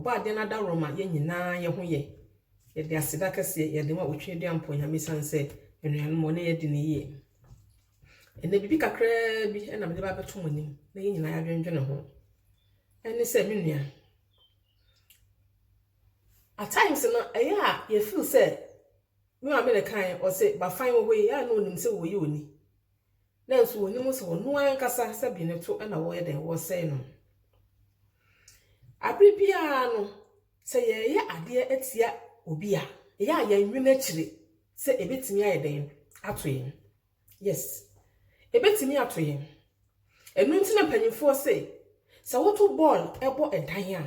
Ɔbɔ adeɛ no adaworo ma yɛn nyinaa yɛ ho yɛ. Yɛde aseda kɛseɛ yɛde ma Otweaduam Mpo Nyame ɛsiane sɛ anuanom ɔne yɛn adi no yie. Ɛnɛ biribi kakraa bi na mede ba abɛto mo anim na yɛn nyinaa yɛadwendwene ho. Ɛne sɛ me nua, at times no ɛyɛ a yɛfeel sɛ me maame na ɛkaeɛ ɔse bafan wɔ hɔ yi a na ɔnim sɛ wɔyi ɔni nanso wɔnim sɛ ɔno ankasa sɛ dwene to na wɔyɛ dɛn wɔsɛe no. Abere biara no, sɛ yɛyɛ adeɛ atia obi a, ɛyɛ a yɛnwene akyire sɛ ɛbɛtumi ayɛ dɛn ato yɛn. Yes, ɛbɛtumi ato yɛn. Ɛno nti na mpanyinfoɔ se, sɛ woto bɔɔl ɛbɔ ɛdan a,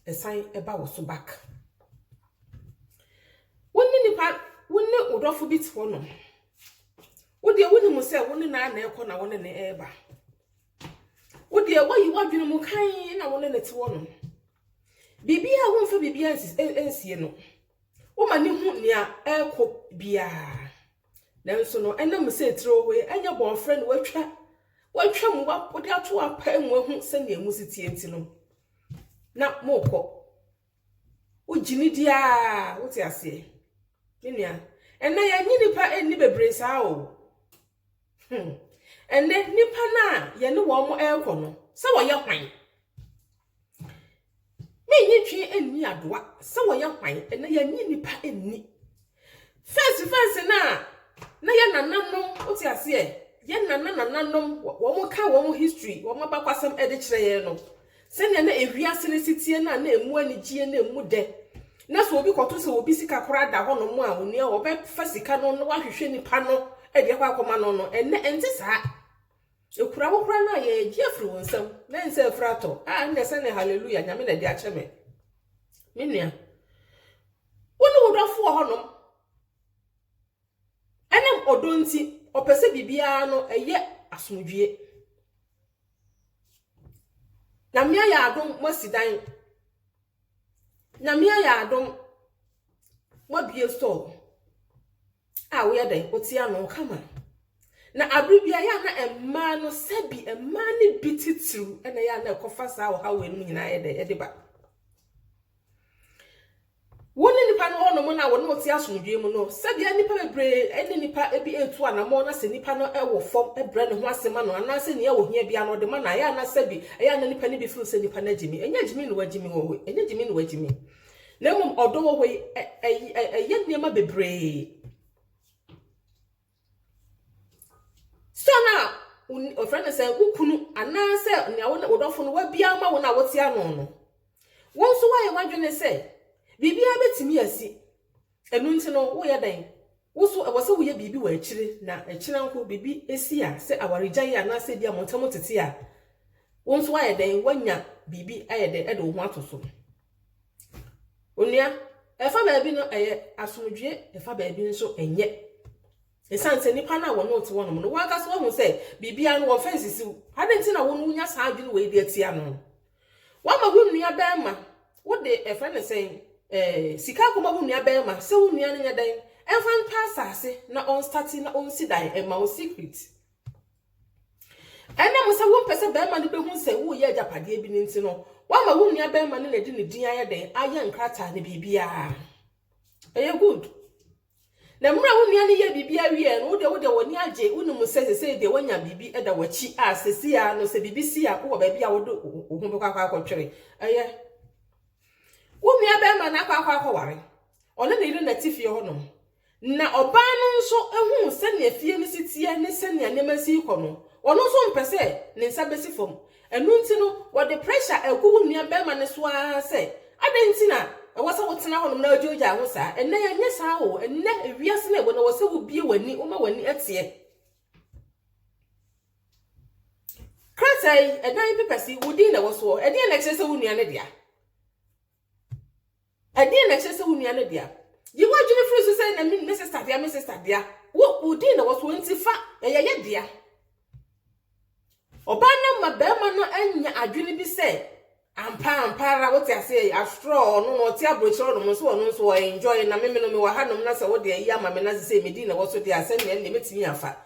ɛsan ɛba wɔ so back. Wo ne nipa, wo ne wo dɔfo bi te hɔ nom. Wo deɛ wonim sɛ wo ne no ara na ɛrekɔ na wo ne no reba. Wo deɛ woayi w'adwene mu kann na wo ne no te hɔ no. Biribiara womfa biribiara nsi nsie no. Woma ne hu nea ɛrekɔ biara. Nanso no ɛnam sɛ tiri wɔ hɔ yi ɛnyɛ bɔnfrɛ na watwa watwa mu wode ato apa mu ahu sɛnea mu si tie nti no na mokɔ. Wogye no di ara, wote aseɛ. Me nua, ɛnnɛ yɛnnye nnipa nni bebree saa o. Hmm. Ɛnnɛ, nnipa no a yɛne wɔn rekɔ no, sɛ wɔyɛ hwan? Mennye ntwe nni adoa sɛ wɔyɛ hwan, ɛnnɛ yɛnnye nnipa nni. First verse no a na yɛn nananom, wote aseɛ, yɛn nana nananom, wɔn ka wɔn history, wɔn abakwasɛm de kyerɛ yɛn no. Sɛnea na ewiase no si tie no a na emu anigyeɛ na emu dɛ. Na sɛ obi kɔto sɛ obi sika koraa da hɔ nom a onua wɔbɛfa sika no na wahwehwɛ nipa no de akɔ akɔma no no. Ɛnnɛ ɛnte saa. Ekura wo koraa no a yɛgye afiri wo nsam na ɛnsɛ afiri atɔ. A ɛnna sɛ ne hallelujah nyame na ɛde akyɛ me. Me nua. Wo ne wo dɔfo wɔ hɔnom. Ɛnam ɔdɔ nti, ɔpɛ sɛ biribiara no ɛyɛ asomdwoe. Nyame ayɛ adom moasi dan. Nyame ayɛ adom moabue store. a woyɛ dɛn wote ano kama. Na abere bi a ɛyɛ a na mmaa no sɛbi mmaa no bi titiriw na ɛyɛ a na ɛkɔfa saa ɔhaw wei no mu nyinaa yɛ dɛn ɛde ba. wo ne nipa no hɔnom no a wɔne wɔte asomdwee mu no sɛbea nipa bebree ne nipa bi ɛtu anammɔn na sɛ nipa no wɔ fam brɛ ne ho ase ma no anaasɛ nea wɔhia bia no ɔde ma no ayɛ anasɛ bi ɛyɛ na nipa no bi firi sɛ nipa no agyimi ɛnyɛ agyimi na wagyimi wɔ hɔ ɛnyɛ gyimi na wagyimi Na mmom ɔdɔ wɔ hɔ yi, ɛyɛ nneɛma bebree. Sɛ na ɔfrɛ no sɛ wo kunu anaasɛ nea wo dɔfo no wabia ama wo no a wote ano no, wo nso woayɛ w'adwene sɛ biribiara bɛtumi asi Ɛno nti no, woreyɛ dɛn? Wo nso, ɛwɔ sɛ woyɛ biribi wɔ akyiri na akyiri anko biribi si a, sɛ awaregyae anaasɛ ebia mo ntam tete a, wo nso woayɛ dɛn? Woanya biribi ayɛ dɛn de wo ho ato so. Onua, ɛfa baabi no ɛyɛ asomdwoe, ɛfa baabi nso ɛnyɛ. Esiane sɛ nnipa no a wɔne wo te hɔnom no, wɔn ankasa wɔahu sɛ biribiara no, wɔmfa nsisi wo. Adɛn nti na wo no wunya saa adwene wei de atia no? Woama wo nua barima, wode, ɛfrɛ no sɛn, eh, sika akɔma wo nua barima sɛ wo nua no nyɛ dɛn? Ɛmfa ntɔ asase na ɔnstate na ɔnsi dan mma wo secret. Ɛnam sɛ wompɛ sɛ barima no bɛhu sɛ woreyɛ agyapadeɛ bi no nti no, woama wo nua barima no na ɛde ne din ayɛ dɛn? Ayɛ nkrataa ne biribiara. Ɛyɛ good. Na mmerɛ a wo nua no yɛɛ biribiara wieeɛ no, wo deɛ wode w'ani agye, wonim sɛ seesei deɛ woanya biribi da w'akyi a, seesei ara no sɛ biribi si a, wowɔ baabi a wode wo ho bɛkɔ akɔ akɔtwere. Ɛyɛ wo nuabarima no akɔ akɔ akɔware, ɔne ne yere na ɛte fie hɔnom, na ɔbaa no nso hu sɛnea fie no si teɛ ne sɛnea nneɛma si rekɔ no, ɔno nso mpɛ sɛ ne nsa bɛsi fam. Ɛno nti no, wɔde pressure agu wo nuabarima no so ara sɛ, Adɛn nti na ɛwɔ sɛ wotena hɔnom na wogyaagyaa ho saa? Ɛnnɛ yɛnyɛ saa o. Ɛnnɛ, wiase no a ɛwɔ no, ɛwɔ sɛ wubue w'ani, woma w'ani teɛ. Krataa yi, ɛdan pepɛse, wo din na ɛwɔ soɔ. Ɛdeɛn na ɛkyerɛ sɛ wo nua no dea? Ɛdeɛn na ɛkyerɛ sɛ wo nua no dea? Yi w'adwene firi so sɛ na me me sista dea me sista dea. Wo wo din na wɔsoɔ nti fa ɛyɛ yɛ dea. Ɔbaa no ma barima no anya adwene bi sɛ ampa ampa ara wote aseɛ yi after all ɔno no ɔte aburokyerɛ ɔnom nso ɔno nso ɔ enjoy na meme no mewɔ hanom na sɛ wode ayi ama me na sɛ sɛ me din na ɛwɔ so deɛ a sɛnea ɛnneɛ mɛtumi afa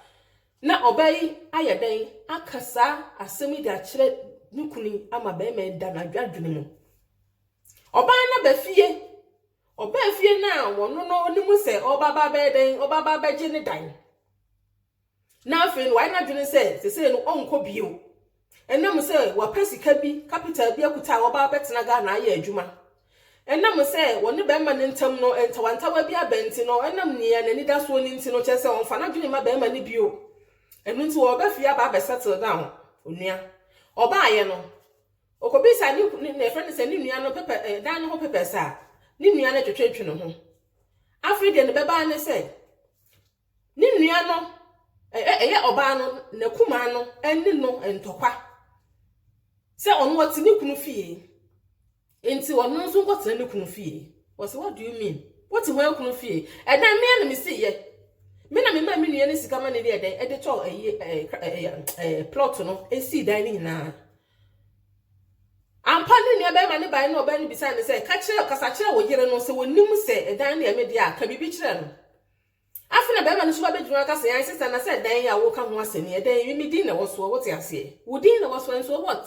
Ná ɔbaa yi ayɛ dɛn aka saa asɛm yi de akyerɛ ne kunu yi ama barima yi da n'adwadwene mu? Ɔbaa no aba fie. Ɔbaa fie no a ɔno no onim sɛ ɔba ba bɛyɛ dɛn, ɔba ba bɛgye ne dan. Na afei no wayɛ n'adwene sɛ sesei no ɔnkɔ bio. Ɛnam sɛ wapɛ sika bi, capital bi akuta a ɔba abɛtena Ghana ayɛ adwuma. Ɛnam sɛ ɔne barima no ntam no ntawantawa bi aba nti no, ɛnam nea n'ani da soɔ no nti no, kyerɛ sɛ ɔmfa n'adwene mma barima no bio. Ɛno nti ɔreba fie aba abɛ settle down. Onua. Ɔbaeɛ no, ɔkɔbisaa ne, ne, ne ɛfrɛ no sɛ ne nua no pɛpɛ, eh, dan no ho pɛpɛs a, ne nua no twetwetwe ne ho. Afei deɛ ne bɛbaa ne sɛ, Ne nua no, ɛ-ɛ ɛyɛ ɔbaa no n'akumaa no anni no ntɔkwa sɛ ɔno ɔte ne kunu fie nti ɔno nso nkɔtena ne kunu fie. Wɔse what do you mean? Wote hwan kunu fie? Ɛdan mea na mesiyɛ. Me na mema me nua ne sika ma ne deɛ dɛn ɛde tɔ ɛyi ɛɛ plot no esii dan ne nyinaa. Ampa ne nua bɛrima ne bae na ɔbaa ne bisaa ne sɛ ka kyerɛ kasa kyerɛ wo yere no sɛ wɔnim sɛ ɛdan no yɛ me deɛ a ka biribi kyerɛ no. Afei na barima no nso ba bɛgyina hɔ aka sɛ, Ae, sista, na sɛ dan yi a woreka ho asɛm yi, ɛdan yi, me din na ɛwɔ soɔ, wote aseɛ? Wo din na ɛwɔ soɔ, nso what?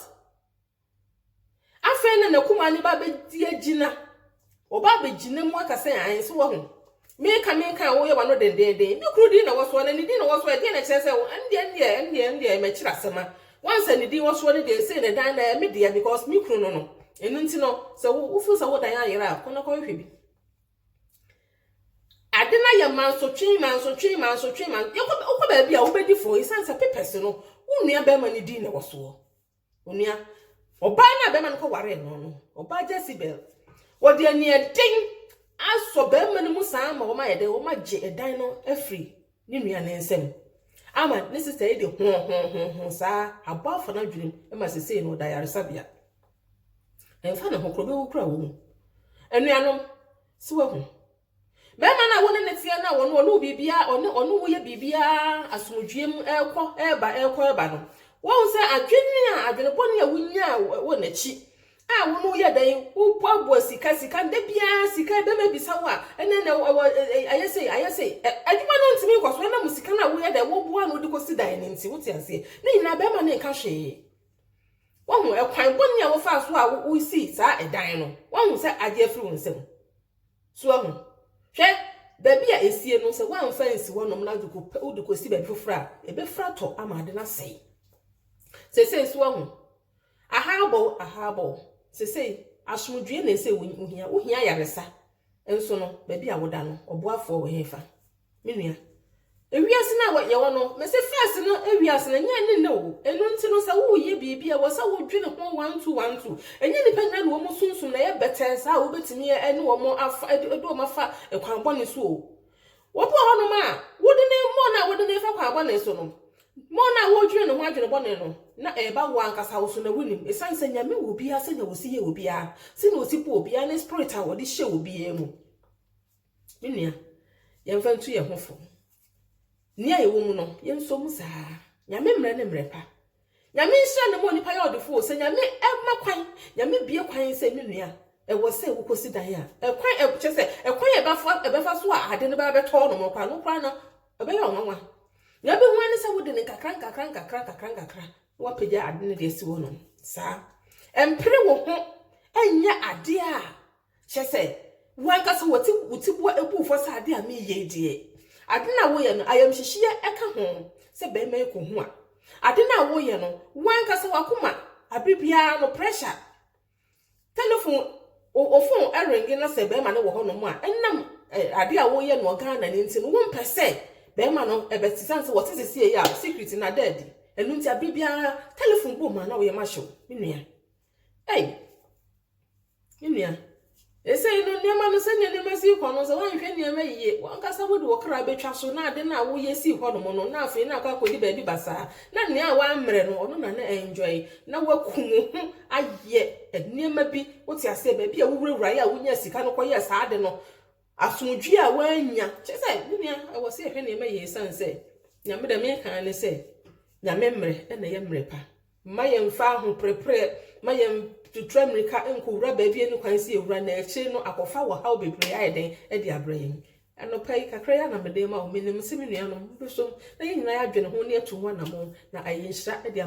Afei na n'akumaa no ba bɛdi agyina. Ɔba abɛgyina mu aka sɛ, Ae, so wahu? Meka, meka a woyɛ w'ano dendeenden. Me kunu din na ɛwɔ soɔ, na ne din na ɛwɔ soɔ, ɛdeɛn na ɛkyerɛ sɛ wo, ɛndeɛ, ɛndeɛ, ɛndeɛ, ɛndeɛ, makyiri asɛm a, once a ne din wɔ soɔ no deɛ, sei na dan no ɛyɛ me dea, because me kunu no no. Ɛno nti no, sɛ wo, wo feel sɛ wo dan ayera a, kɔ na kɔhwehwɛ bi. Ade no ayɛ mansotwe, mansotwe, mansotwe, man yɛkɔ wokɔ baabi a wobɛdi fɔ ɛsiane sɛ papers no wo nua bɛrima no din na ɛwɔ soɔ. Onua, ɔbaa no a bɛrima no kɔ waree no no, ɔbaa Jezebel, wɔde aniɛden asɔ bɛrima no mu saa ma wɔn ayɛ dɛ wɔn agye ɛdan no afiri ne nua no nsam. Ama ne sista yi de ho ho ho ho saa abɔ afa no adwenem ma sesei no ɔda yaresabea. Ɛmfa ne ho kora obewu kora wɔ mu. Anuanom, so wahu? Bɛrima no a wo ne ne teɛ no a ɔne ɔne wo biribiara ɔne ɔne wo yɛ biribiara asomdwoeɛ mu ɛrekɔ ɛreba ɛrekɔ ɛreba no wahu sɛ adwene a adwene bɔne a wonyaa wɔ n'akyi a wo no yɛ dɛn woboaboa sika sika nda biara sika bɛrima bisa wo a ɛnɛ na ɛwɔ ayɛ sei ayɛ sei adwuma no ntumi nkɔ so ɛnam sika no a woyɛ dɛ woboa no wode kɔsi dan no nti wote aseɛ ne nyinaa bɛrima no nka hwee Wahu ɛkwan bɔne a wofaa so a wosii saa ɛdan no. Wahu sɛ agye afiri wo nsam. So ahu? Hwɛ, baabi a esie no, sɛ woamfa nsi hɔnom na wode kɔsi baabi foforɔ a, ɛbɛfira tɔ ama ade no asɛe. Sesei so ahu? Aha abɔ wo, aha abɔ wo. Sesei, asomdwoeɛ na ɛsɛ wohia. Wohia ayaresa. Nso no, baabi a woda no, ɔboafoɔ wɔ hefa? Me nua, ewiase no a yɛwɔ no, mese first no ewiase no, ɛnyɛ ɛne nnɛ o. Ɛno nti no, sɛ woreyɛ biribi a, ɛwɔ sɛ wodwene ho one two, one two. Ɛnyɛ nnipa nyinaa na wɔn sunsum na ɛyɛ bɛtɛɛ saa a wobɛtumi ne wɔn afa, de wɔn afa kwan bɔne so o. Obi wɔ hɔnom a, wode ne, mmɔɔ no a wode ne fa kwan bɔne so no, mmɔɔ no a wodwene ne ho adwene bɔne no, na ɛreba wo ankasa wo so na wonim. Ɛsiane sɛ Nyame wɔ obiara sɛnea ɔsi yɛ obiara, sɛnea ɔsi bɔ obiara ne spirit a ɔde hyɛ obiara mu. Me nua, yɛmfa ntu yɛn ho fo. Nea yɛwɔ mu no, yɛnsɔ mu saa ara. Nyame mmerɛ ne mmerɛ pa. Nyame nhyira na ɛma onipa yɛ ɔdefoɔ o. Sɛ Nyame ma kwan, Nyame bue kwan sɛ me nua, ɛwɔ sɛ wokɔsi dan a, ɛkwan, ɛ, kyerɛ sɛ, ɛkwan a ɛbɛfa, ɛbɛfa so a ade no bɛba bɛtɔ hɔnom no koraa no koraa no, ɛbɛyɛ wo nwanwa. Nea wobɛhu ara ne sɛ wode no nkakra nkakra nkakra nkakra nkakra na woapagya ade no de asi hɔnom. Saa. Ɛmpere wo ho nyɛ adeɛ a Kyerɛ sɛ, wo ankasa wɔte wo tiboa abu fɔ sɛ ade a mereyɛ yi deɛ, ade no a woreyɛ no, ayamhyehyeɛ ka ho sɛ barima yi kɔhu a. Ade no a woreyɛ no, wo ankasa w'akoma, aberɛ biara no pressure, telefon, wo wo fon renge na sɛ barima no wɔ hɔnom a, ɛnam eh, ade a woreyɛ no Ghana no nti no, wompɛ sɛ barima no ɛbɛte, eh, sane sɛ wɔte sesie yi a secret no ada adi. Ɛno nti aberɛ biara telefon bom a na woyɛ mahyew, me nua. Ei! Me nua, seesei no nneɛma no sɛnea nneɛma si kɔ no sɛ woanhwɛ nneɛma yiye, w'ankasa wode wo kra bɛtwa so na ade no a woyɛ sii hɔnom no na afei na akɔ akɔdi baabi basaa. Na nea woammrɛ no, ɔno na na enjoy. Na woakum wo ho ayɛ nneɛma bi, wote aseɛ, baabi a wowurawuraeɛ a wonyaa sika no kɔyɛɛ saa ade no, asomdwoeɛ a woannya. Kyerɛ sɛ, me nua, ɛwɔ sɛ yɛhwɛ nneɛma yiye esiane sɛ Nyame deɛ meka ne sɛ, Nyame mmerɛ na ɛyɛ mmerɛ pa. Mma yɛmmfa ahoperepereɛ mma yɛn tutu ammirika nkɔwura baabi a ɛnni kwan sɛ yɛwura, na akyire no akɔfa ɔhaw bebree ayɛ dɛn de abrɛ yɛn. Anɔpa yi, kakra yi ara na mede rema wo. Menim sɛ me nuanom, mobɛsom na yɛn nyinaa yɛadwene ho na yɛatu ho anammɔn, na ayɛ nhyira de ama.